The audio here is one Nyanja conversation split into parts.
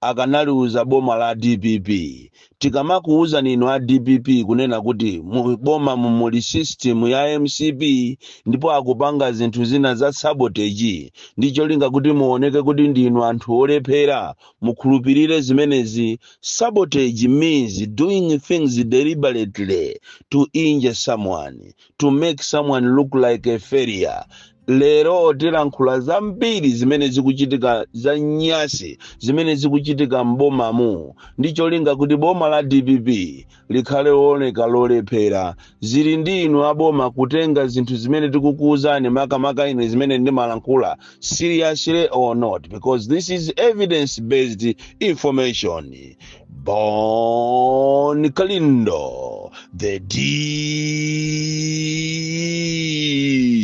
akanaliuza boma la dpp. Tikamakuuzani inu a dpp kunena kuti mu bomamu muli system ya mcp ndipo akupanga zinthu zina za sabotage ndi cholinga kuti muoneke kuti ndinu anthu olephera, mukhulupirire zimenezi. Sabotage means doing things deliberately to injure someone, to make someone look like a failure. lero tilankhula zambiri zimene zikuchitika za nyasi zimene zikuchitika m'bomamu ndi cholinga kuti boma la dpp likhale looneka lolephera zili ndi inu aboma kutenga zinthu zimene tikukuwuzani makamaka ine zimene ndimalankhula seriously or not because this is evidence based information Bon Kalindo, the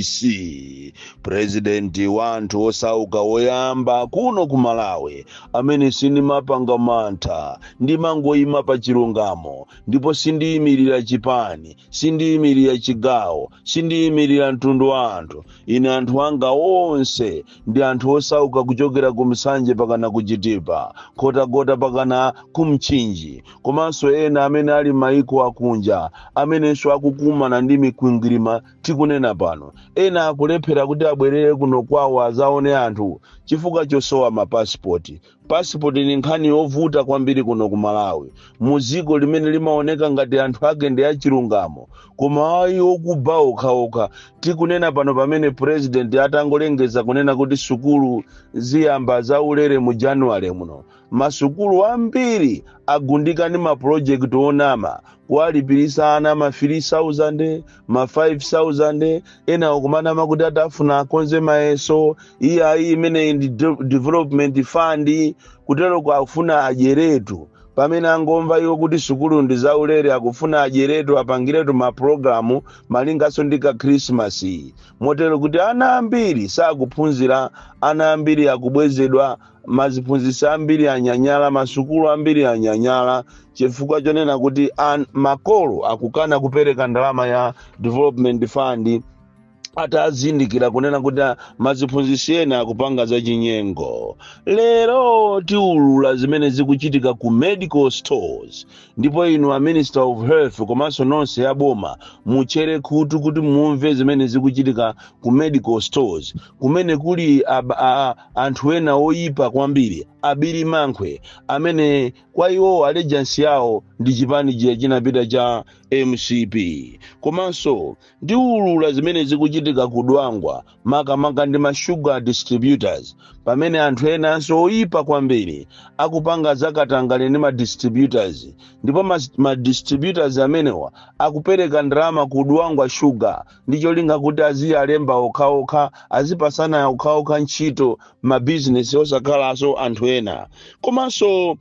DC, president wa anthu osauka woyamba kuno ku Malawi, amene sindimapanga mantha, ndimangoyima pa chilungamo, ndipo sindiyimirira chipani, sindiyimirira chigawo, sindiyimirira mtundu wa anthu. Ine anthu anga onse ndi anthu osauka kuchokera ku Nsanje pakana ku chitipa Nkhotakota pakana ku mchinji komanso ena amene ali maiko akunja amenenso akukumana ndi mikwingwirima tikunena pano ena akulephera kuti abwerere kuno kwawo azaone anthu chifukwa chosowa mapasipoti Pasipoti ni nkhani yovuta kwambiri kuno ku Malawi, mu dziko limene limaoneka ngati anthu ake ndi achilungamo, koma ayi okuba okhaokha. Tikunena pano pamene pulezidenti atangolengeza kunena kuti sukulu ziyamba zaulere mu January muno, masukulu ambiri agundika ndi mapulojekiti onama, kuwalipirisa ana ma 3,000, ma 5000 ena akumanama kuti atafuna akonze mayeso iye ayi imeneyi ndi de- development fund kuteroko afuna adyeretu pamene angomva iwo kuti sukulu ndi zaulere akufuna adyeretu apangiretu mapulogalamu malinganso ndi ka khrisimasi motero kuti ana ambiri sakuphunzira ana ambiri akubwezedwa maziphunzitsi ambiri anyanyala masukulu ambiri anyanyala chifukwa chonena kuti an, makolo akukana kupereka ndalama ya development fund atazindikira kunena kuti ah, maziphunzitsi ena akupanga zachinyengo lero tiulula zimene zikuchitika ku medical stores ndipo inu a minister of health komanso nonse a boma mutchere khutu kuti mumve zimene zikuchitika ku medical stores kumene kuli ab- a- anthu ena oyipa kwambiri abiri mankhwe amene kwa iwowo allegiance yawo ndi chipani chija chinapita cha mcp komanso ndiulula zimene zikuchitika ku dwangwa makamaka ndi ma sugar distributors pamene anthu enanso oyipa kwambiri akupanga zakatangale ndi ma distributors ndipo ma, ma distributors amenewa akupereka ndalama ku dwangwa sugar ndi cholinga kuti aziyalemba okhaokha azipasana okhaokha ntchito mabizinesi osakhalanso anthu ena komanso uh,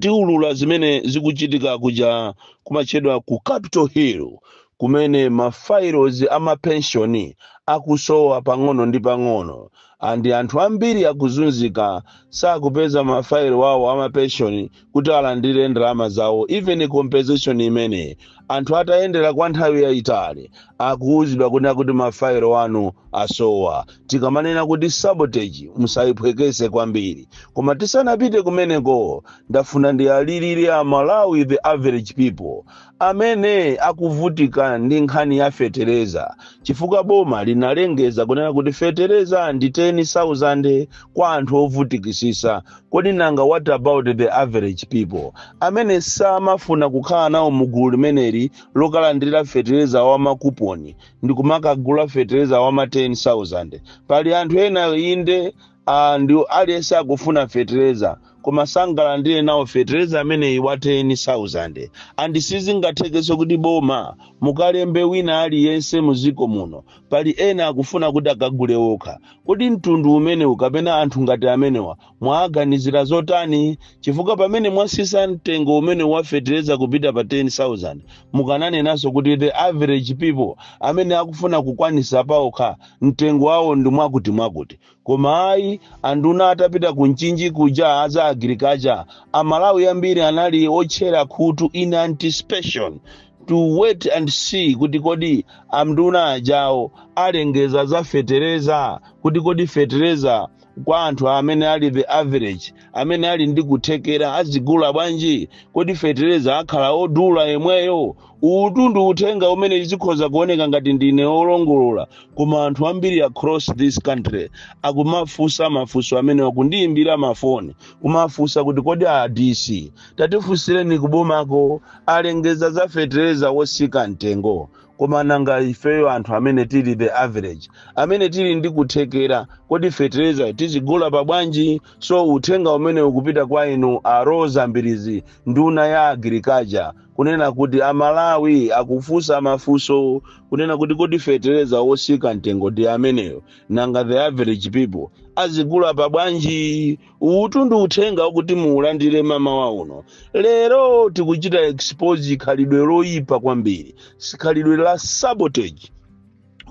tiulula zimene zikuchitika kuja kumatchedwa ku capital hill kumene ma files amapenshoni akusowa pang'ono ndi pang'ono andi anthu ambiri akuzunzika sakupeza mafailo awo amapenshoni kuti alandire ndalama zawo even compensation imene anthu atayendera kwa nthawi yayitali akuwuzidwa kunena kuti mafailo anu asowa tikamanena kuti sabotage musayiphwekese kwambiri koma tisanapite kumeneko ndafuna ndiwalirire amalawi the average people amene akuvutika ndi nkhani ya fetereza chifukwa boma linalengeza kunena kuti fetereza ndi 10,000 kwa anthu ovutikisisa kodi nanga what about the average people amene samafuna kukhala nawo mu gulu limeneli lokalandira fetereza wa makuponi ndi kumakagula fetereza wa ma 10,000 pali anthu ena inde And aliyense akufuna fetereza koma sangalandire nawo fetereza ameneyi wa 10000 and sizingathekenso kuti boma mukalembe wina aliyense muziko muno pali ena akufuna kuti akagule okha kodi mtundu umenewu kapena anthu ngati amenewa mwawaganizira zotani chifukwa pamene mwasisa mtengo umenewu wa fetereza kupita pa 10000 mukananenanso kuti the average people amene akufuna kukwanisa paokha mtengo wawo ndi mwakuti mwakuti Koma ayi, anduna atapita ku Mchinji kuja a za agriculture, Amalawi ambiri anali otchera khutu in anticipation to wait and see kuti kodi anduna ajawo alengeza za fetereza kuti kodi fetereza kwa anthu amene ali the average amene ali ndi kuthekera azigula bwanji kodi fetereza akhala odula yemweyo uwutu ndi uthenga umene zikhoza kuoneka ngati ndine olongolola koma anthu ambiri across this country akumafunsa mafunso amenewa akundiyimbira mafoni kumafunsa kuti kodi a dc tatifunsireni kubomako alengeza za fetereza wosika mtengo koma nanga ifeyo anthu amene tili the average amene tili ndi kuthekera kodi feterezayo tizigula pa bwanji so uthenga umene ukupita kwa inu a roza mbilizi nduna ya agriculture kunena kuti amalawi akufunsa mafunso kunena kuti kodi fetereza wotsika mtengo ndi ameneyo nanga the average people azigula pa bwanji uwutu ndi uthenga wakuti muulandire mamawa uno lero tikuchita expose khalidwe loyipa kwambiri khalidwe la sabotage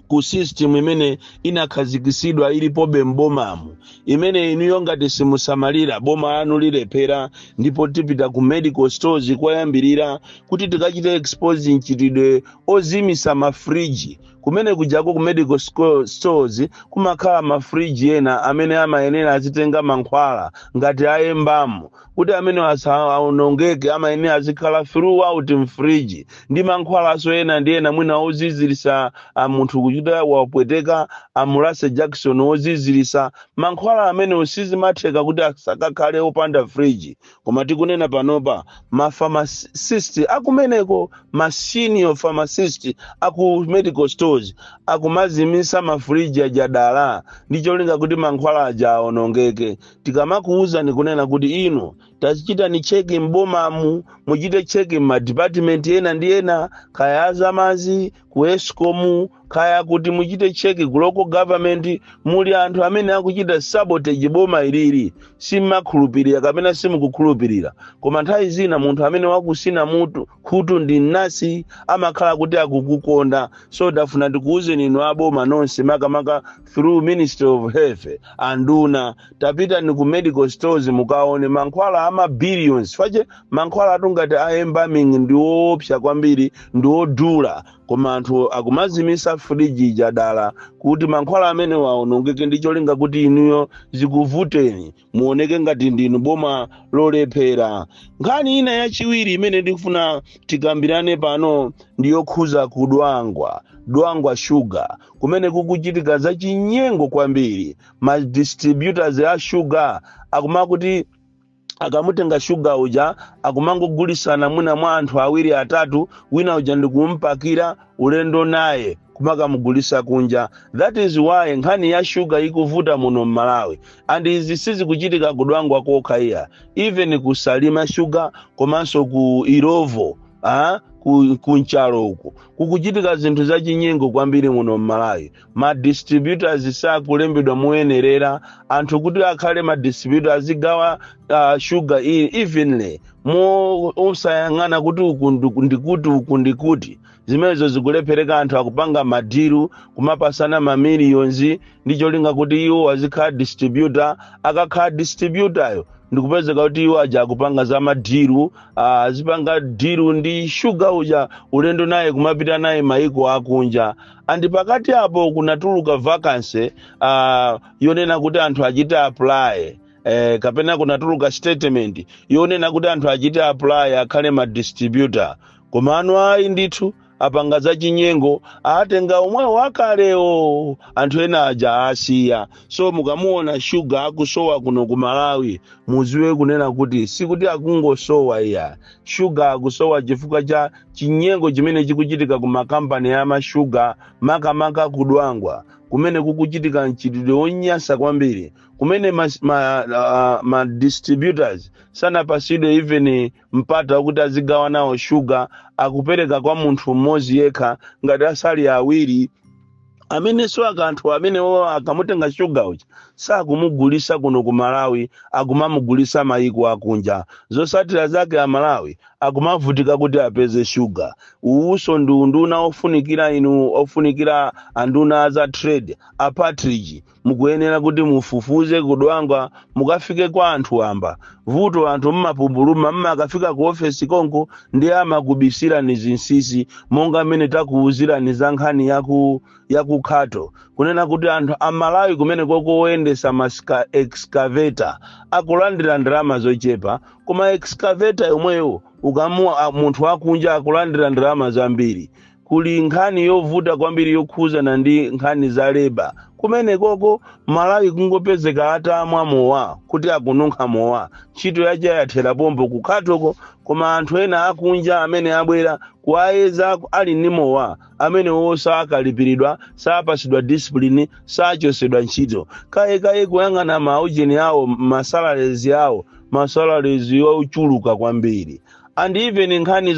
ku system imene inakhazikitsidwa ilipobe m'bomamu imene inuyo ngati simusamalira boma lanu lilephera ndipo tipita ku medical stores koyambirira kuti tikachite expose mchitidwe ozimitsa mafriji kumene kujako ku medical sco- stores kumakhala mafriji ena amene amayenera azitenga mankhwala ngati a embalming kuti amene asaonongeke amayenera azikhala throughout mfriji ndi mankhwalanso ena ndi ena mwina oziziritsa munthu kuti akapweteka amulase jakisoni oziziritsa mankhwala amene sizimatheka kuti asakakhale opanda friji koma tikunena panopa ma pharmacist akumeneko ma senior pharmacist aku medical stores akumazimitsa mafriji aja dala ndi cholinga kuti mankhwala aja aonongeke tikamakuwuzani kunena kuti inu tachitani cheki m'bomamu muchite cheki m'madipatimenti ena ndi ena kaya azamazi ku escom kaya kuti muchite cheki ku local government muli anthu amene akuchita sabotage boma ilili simmakhulupirira kapena simukukhulupirira koma nthawi zina munthu amene wakutsina mutu khutu ndi mnansi amakhala kuti akukukonda so ndafuna ndikuwuzeni inu aboma nonse makamaka through ministry of health anduna tapitani ku medical stores mukaone mankhwala ama billions fache mankhwalatu ngati a embalming ndi woopsa kwambiri ndi wodula koma anthu akumazimitsa friji ija dala kuti mankhwala amenewa aonongeke ndi cholinga kuti inuyo zikuvuteni muoneke ngati ndinu boma lolephera nkhani ina yachiwiri imene ndikufuna tikambirane pano ndi yokhuza kudwangwa dwangwa shuga kumene kukuchitika zachinyengo kwambiri ma distributors a shuga akumakuti akamutenga shuga uja akumangogulisana mwina mwa anthu awiri atatu wina uja ndikumpakira ulendo naye kumakamugulisa kunja that is why nkhani ya shuga ikuvuta muno mmalawi and izi sizikuchitika kudwangwa kokha iyayi even kusalima shuga komanso ku illovo ah, ku, ku nchalo uku kukuchitika zinthu zachinyengo kwambiri muno mmalawi ma distributors sakulembedwa moyenerera anthu kuti akhale ma distributor azigawa uh, sugar iyi evenly mosayang'ana kuti uku ndiku- ndikuti uku ndikuti zimenezo zikulephereka anthu akupanga madiru kumapasana mamiliyonzi ndi cholinga kuti iwo azikhala distributor akakhala distributayo ndikupezeka kuti iwo aja akupanga za madiru ah, azipanga diru ndi shuga uja ulendo naye kumapita naye maiko akunja and pakati apo kunatuluka vacancy uh, yonena kuti anthu achite apply eh, kapena kunatuluka statement yonena kuti anthu achite apply akhale ma distributor koma anu ayi ndithu apanga za chinyengo atenga omwewo akalewo anthu ena aja asiya so mukamuona shuga akusowa kuno ku malawi muziwe kunena kuti sikuti akungosowa iya shuga akusowa chifukwa cha chinyengo chimene chikuchitika ku makampani ya mashuga makamaka kudwangwa kumene kukuchitika mchitidwe wonyansa kwambiri kumene mas- ma, uh, ma distributors sanapasidwe even mpata wakuti azigawa nawo shuga akupereka kwa munthu mmodzi yekha ngati asali awiri amenenso akanthu amenewo akamutenga shuga uja sakumugulisa kuno ku malawi akumamugulisa mayiko akunja zosatira zake amalawi akumavutika kuti apeze shuga uwuso ndi unduna ofunikira inu ofunikira anduna aza trade a partridge mukuyenera kuti mufufuze kudwangwa mukafike kwa anthu wamba vuto anthu mmapumbuluma mmakafika ku ofesi konko ndiye amakubisirani zinsisi monga mmene takuwuzirani za nkhani yaku yaku Khato kunena kuti anthu amalawi kumenekoko oyendesa ma ska- excavator akulandira ndalama zochepa koma excavator yomweyo ukamu a- munthu akunja akulandira ndalama zambiri kuli nkhani yovuta kwambiri yokhuzana ndi nkhani za leba kumenekoko mmalawi kungopezeka atamwa mowa kuti akununkha mowa ntchito yake yathera pompo kukhatoko koma anthu ena akunja amene abwera kuwayeza ali ndi mowa amenewo sakalipiridwa sapasidwa discipline sachosedwa ntchito kayekaye kuyang'ana maujeni awo masalaries awo masalaries ochuluka kwambiri and even nkhani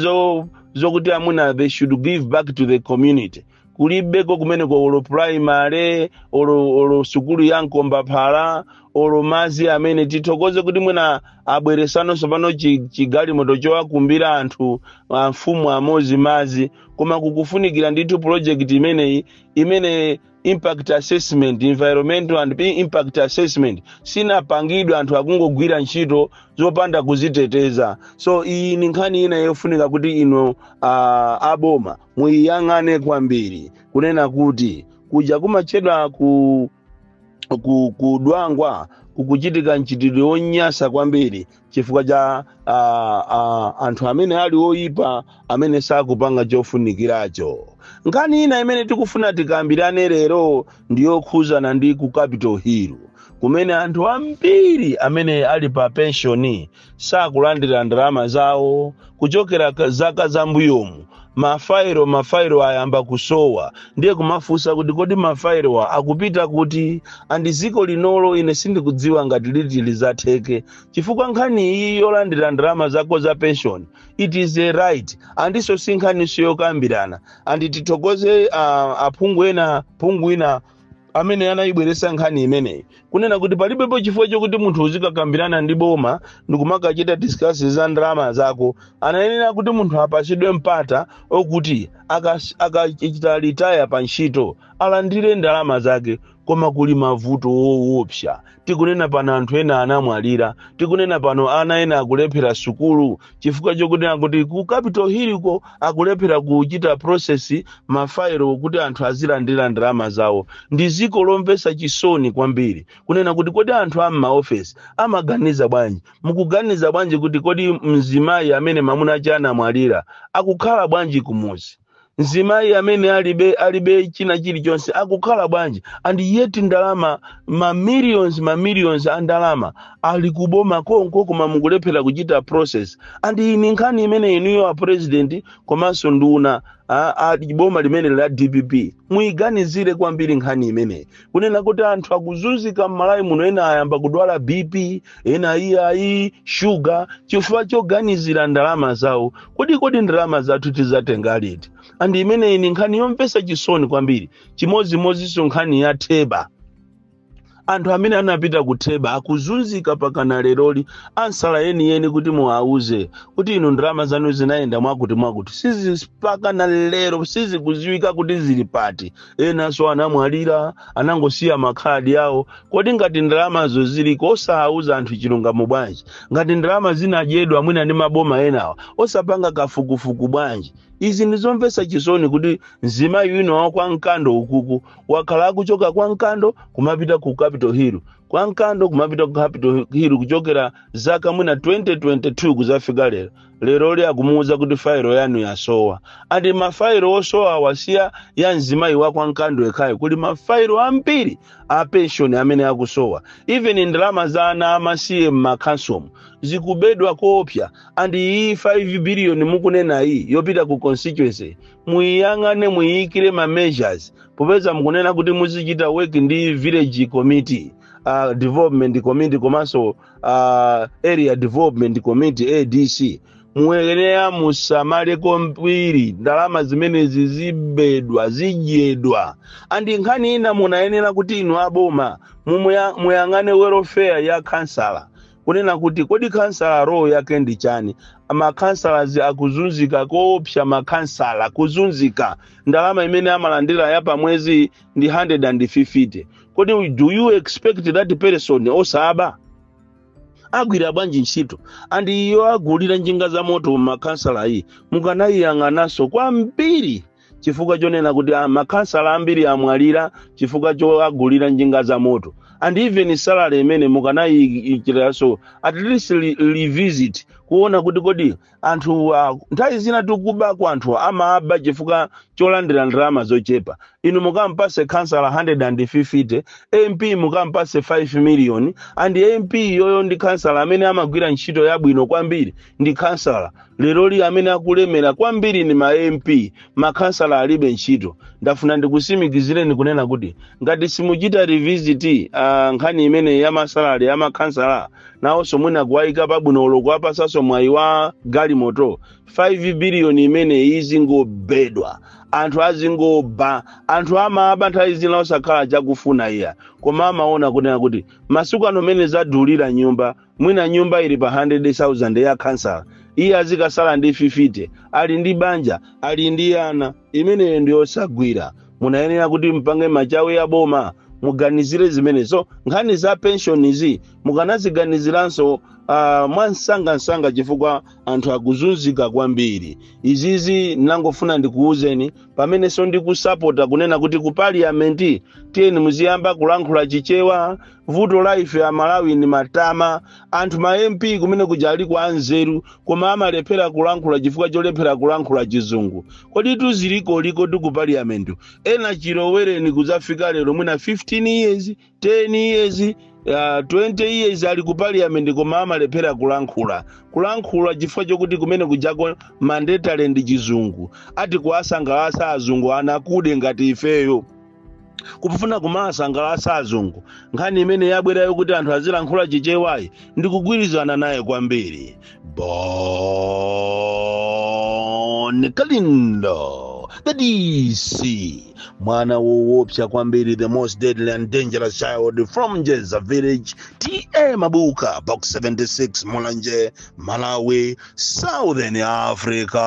zokuti amuna they should give back to the community kulibeko kumeneko olo primary olo olo sukulu ya mkombaphala olo mazi amene tithokoze kuti mwina abweresano so pano chi- chigalimoto chowakumbira anthu amfumu amozi mazi koma kukufunikira ndithu project imeneyi imene impact assessment environmental and impact assessment sinapangidwe anthu akungogwira ntchito zopanda kuziteteza so iyi ni nkhani ina yofunika kuti inu uh, aboma muyiyang'ane kwambiri kunena kuti kuja kumatchedwa ku ku- kudwangwa kukuchitika mchitidwe wonyasa kwambiri chifukwa cha a, a, anthu amene ali oyipa amene sakupanga chofunikiracho nkhani ina imene tikufuna tikambirane lero ndi yokhuzana ndi ku capital hill kumene anthu ambiri amene ali pa penshoni sakulandira ndalama zawo kuchokera ka- zaka zambuyomu mafairo mafairo ayamba kusowa ndiye kumafunsa kuti kodi mafairowa akupita kuti and dziko linolo ine sindikudziwa ngati liti lizatheke chifukwa nkhani iyi yolandira ndalama zako za pension it is a right and so si nkhaniso yokambirana and tithokoze uh, aphungu ena phungu wina amene anayibweresa nkhani imeneyi kunena kuti palibepo chifukwa chokuti munthu uzikakambirana ndi boma ndikumakachita discuss za ndalama zako anayenera kuti munthu apasidwe mpata okuti akachita aka akachita retire pa ntchito alandire ndalama zake koma kuli mavuto owopsa tikunena pano anthu ena anamwalira tikunena pano ana ena akulephera sukulu chifukwa chokunena kuti ku capital hill ko akulephera kuchita process mafairo kuti anthu azilandira ndalama zawo ndi ziko lomvesa chisoni kwambiri kunena kuti kodi anthu a m'maofesi amaganiza bwanji mukuganiza bwanji kuti kodi mzimayi amene mamuna ache anamwalira akukhala bwanji kumuzi mzimayi amene alibe alibe china chilichonse akukhala bwanji and yet ndalama ma millions ma millions a ndalama ali kuboma konko koma mukulephera kuchita process and iyi ni nkhani imene inuyo a president komanso nduna a, a boma limene la dpp muyiganizire kwambiri nkhani imeneyi kunena kuti anthu akuzunzika m'malawi muno ena ayamba kudwala bp ena iyayi shuga chifukwa choganizira ndalama zawo kodi kodi ndalama zathu tizatenga liti and imeneyi ni nkhani yomvesa chisoni kwambiri chimodzimodzinso nkhani ya theba anthu amene anapita kutheba akuzunzika pakana leroli answer yeniyeni kuti muwauze kuti inu ndalama zanu zinayenda mwakuti mwakuti sizi pakana lero sizikuziwika kuti zili pati enanso anamwalira anangosiya makhadi awo kodi ngati ndalamazo ziliko osawuza anthu chilungamo bwanji ngati ndalama zinadyedwa mwina ndi maboma enawa osapanga kafukufuku bwanji izi ndizomvesa chisoni kuti mzimayi wina wa kwa mkando ukuku wakhala akuchoka kwa mkando kumapita ku capital hill kwa mkando kumapita ku capital hill kuchokera zaka mwina 2022 kuzafika lero lero li akumuwuza kuti fairo yanu yasowa and mafairo osowawa si a mzimayi wa kwa Nkando yekhayo kuli mafairo ambiri a penshoni amene akusowa even ndalama za ana amasiye m'makhansomu zikubedwa koopsa and iyi 5 biliyoni mukunenayi yopita ku constituency muyiyang'ane muyiyikire ma measures popeza mukunena kuti muzichita work ndi village committee uh, development committee komanso uh, area development committee adc muyenera musamale kwambiri ndalama zimenezi zibedwa zidyedwa andi nkhani ina munayenera kuti inu aboma mumuya- muyang'ane welfare ya kansala kunena kuti kodi kansala role yake ndi chani makansalatu akuzunzika koopsa makansala kuzunzika ndalama imene amalandira ya pamwezi ndi 150 kodi do you expect that person osaba agwira bwanji ntchito and iyo agulira njinga za moto makansalayi mukanayiyang'ananso kwambiri chifukwa chonena kuti ah, makansala ambiri amwalira chifukwa choagulira njinga za moto and even salary imene mukanayiikiraso at least re- revisit kuona kuti kodi anthu ah, nthawi zina zikubako anthu amaba chifukwa cholandira ndalama zochepa inu mukampase khansala 150 mp mukampase 5 million and mp uyoyo ndi khansala amene amagwira ntchito yabwino kwambiri ndi khansala lero li amene akulemera kwambiri ni ma mp makhansala alibe ntchito ndafuna ndikusimikizireni kunena kuti ngati simuchita revisit uh, nkhani imene ya masalare ya makhansala nawonso mwina kuwayika pabwino olo kuwapasanso mwayi wa galimoto 5 biliyoni imeneyi izingobedwa anthu azingoba anthu amaba nthawi zina osakhala chakufuna iya koma amaona kunena kuti masiku ano mene zadulira nyumba mwina nyumba ili pa 100,000 ya khansala iye azikasala ndi 50 ali ndi banja ali ndi ana imeneyo ndi yosagwira munayenera kuti mpange machawi aboma muganizire zimenezo nkhani za penshonizi mukanaziganiziranso uh, mwamsangamsanga chifukwa anthu akuzunzika kwambiri izizi ndangofuna ndikuwuzeni pamenenso ndikusapota kunena kuti ku parliament tiyeni muziyamba kulankhula chichewa vuto la ife amalawi ndi matama anthu ma mp kumene kuja aliko anzeru koma amalephera kulankhula chifukwa cholephera kulankhula chizungu kodi zilikoliko ku paliyamenti ena chilowereni kudzafika lero mwina 15 years 10 years uh, 20 years ali ku parliament koma amalephera kulankhula kulankhula chifukwa chokuti kumene kujako mandatory ndi chizungu ati kuwasangalatsa azungu anthu akuda ngati ifeyo kufuna kumawasangalatsa azungu nkhani imene yabwerayo kuti anthu azilankhula chichewayi ndikugwirizana naye kwambiri bon kalindo the dc mwana woopsa kwambiri the most deadly and dangerous child from jeza village ta mabuka box 76 mulanje malawi southern africa